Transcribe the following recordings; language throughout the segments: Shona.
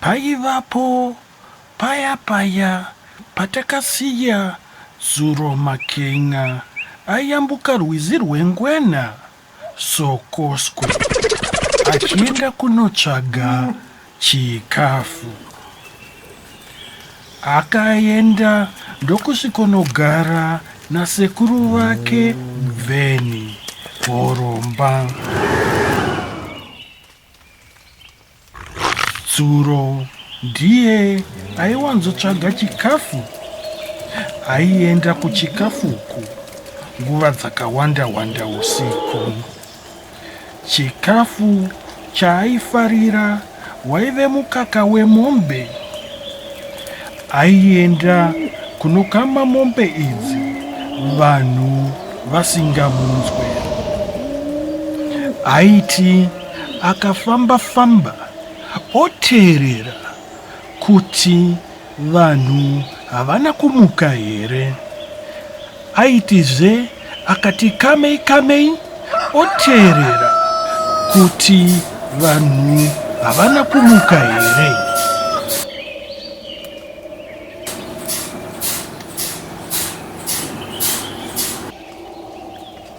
paivapo paya paya patakasiya zuro maken'a ayambuka rwizi rwengwena Sokosko achienda kunotsvaga chikafu. Akaenda ndokusvikonogara nasekuru vake Bveni Horomba. Tsuro ndiye aiwanzotsvaga chikafu. Aienda kuchikafu uku nguva dzakawanda wanda usiku. Chikafu chaaifarira waive mukaka wemombe. Aienda kunokama mombe idzi vanhu vasingamunzwe. Aiti akafamba famba oteerera kuti vanhu havana kumuka here. Aitizve akati kamei kamei oteerera kuti vanhu havana kumuka here.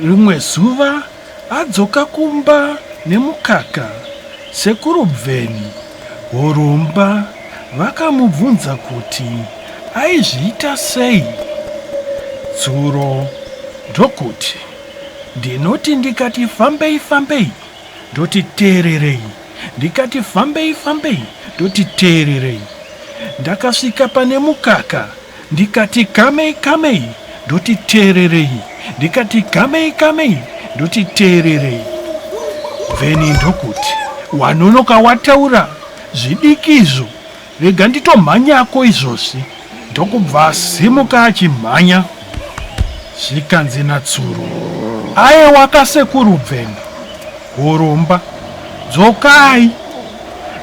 Rimwe zuva adzoka kumba nemukaka, sekuru Bveni Horomba vakamubvunza kuti aizviita sei dzuro ndokuti, Ndinoti ndikati fambei fambei ndoti teererei, ndikati fambei fambei ndoti teererei. Ndakasvika pane mukaka. Ndikati kamei kamei ndoti teererei ndikati kamei kamei ndoti teererei then ndokuti wanonoka wataura zvidiki izvo rega nditomhanyako izvozvi ndokubva asimuka achimhanya zvikanzi natsuro ayewa kasekuru bveni Horomba, dzokai.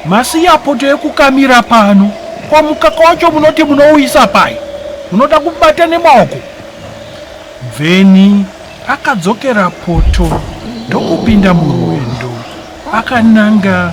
Masiya poto yekukamira pano. Kwa mukaka wacho munoti munouisa pai? Munoda kubata nemaoko? Bveni akadzokera poto ndokupinda murwendo akananga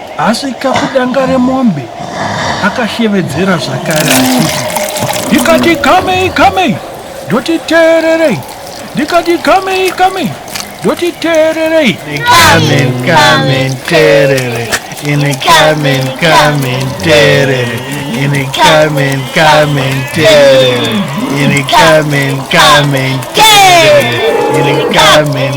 Asvika kudanga remombe akashevedzera zvakare achiti ndikati kamei kamei ndoti teererei ndikati kamei kamei ndoti teererei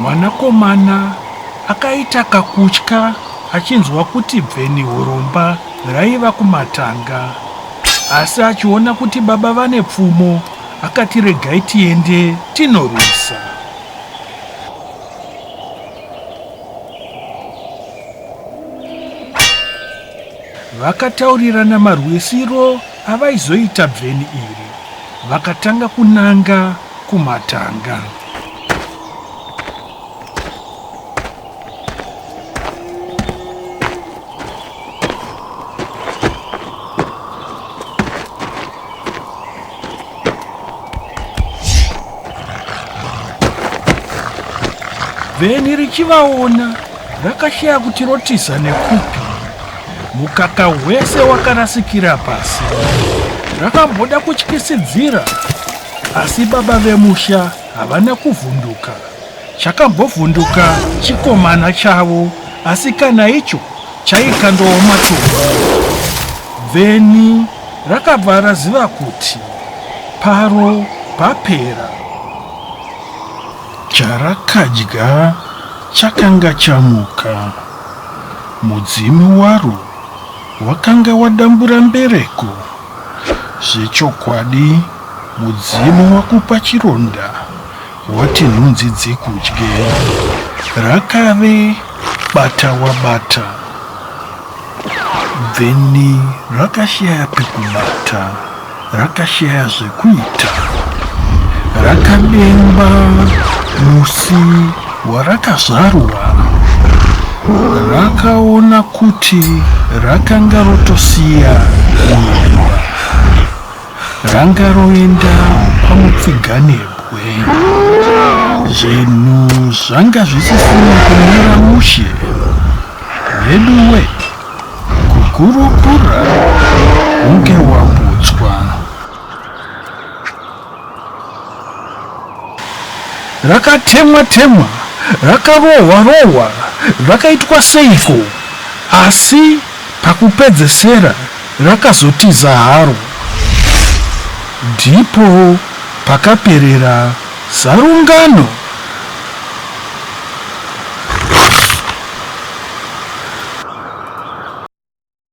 Mwanakomana akaita kakutya achinzwa kuti bveni huromba raiva kumatanga asi achiona kuti baba vane pfumo akati regai tiende tinorwisa. vakataurirana marwisiro avaizoita bveni iri vakatanga kunanga kumatanga. Vheni richivaona rakashaya kuti rotiza nekupi. Mukaka hwese wakarasikira pasi. Rakamboda kutyisidzira Asi baba vemusha havana kuvhunduka. Chakambovhunduka chikomana chavo asi kana icho chaikandowo matumbu. Vheni rakabva raziva kuti paro papera. Charakadya chakanga chamuka. Mudzimu waro wakanga wadambura mbereko. Zvechokwadi mudzimu wakupa chironda wati nhunzi dzikudye. Rakave bata wabata bveni rakashaya pekubata rakashaya zvekuita. Rakademba musi warakazvarura rakaona kuti rakanga rotosiya nyemba ranga roenda pamutsiganebwe zvinhu zvanga zvisisina kumira mushe veduwe kukurukura unge waputswa Rakatemwa temwa, rakarohwa rohwa, rakaitwa seiko asi pakupedzesera rakazotiza haro. Ndipo pakaperera zarungano.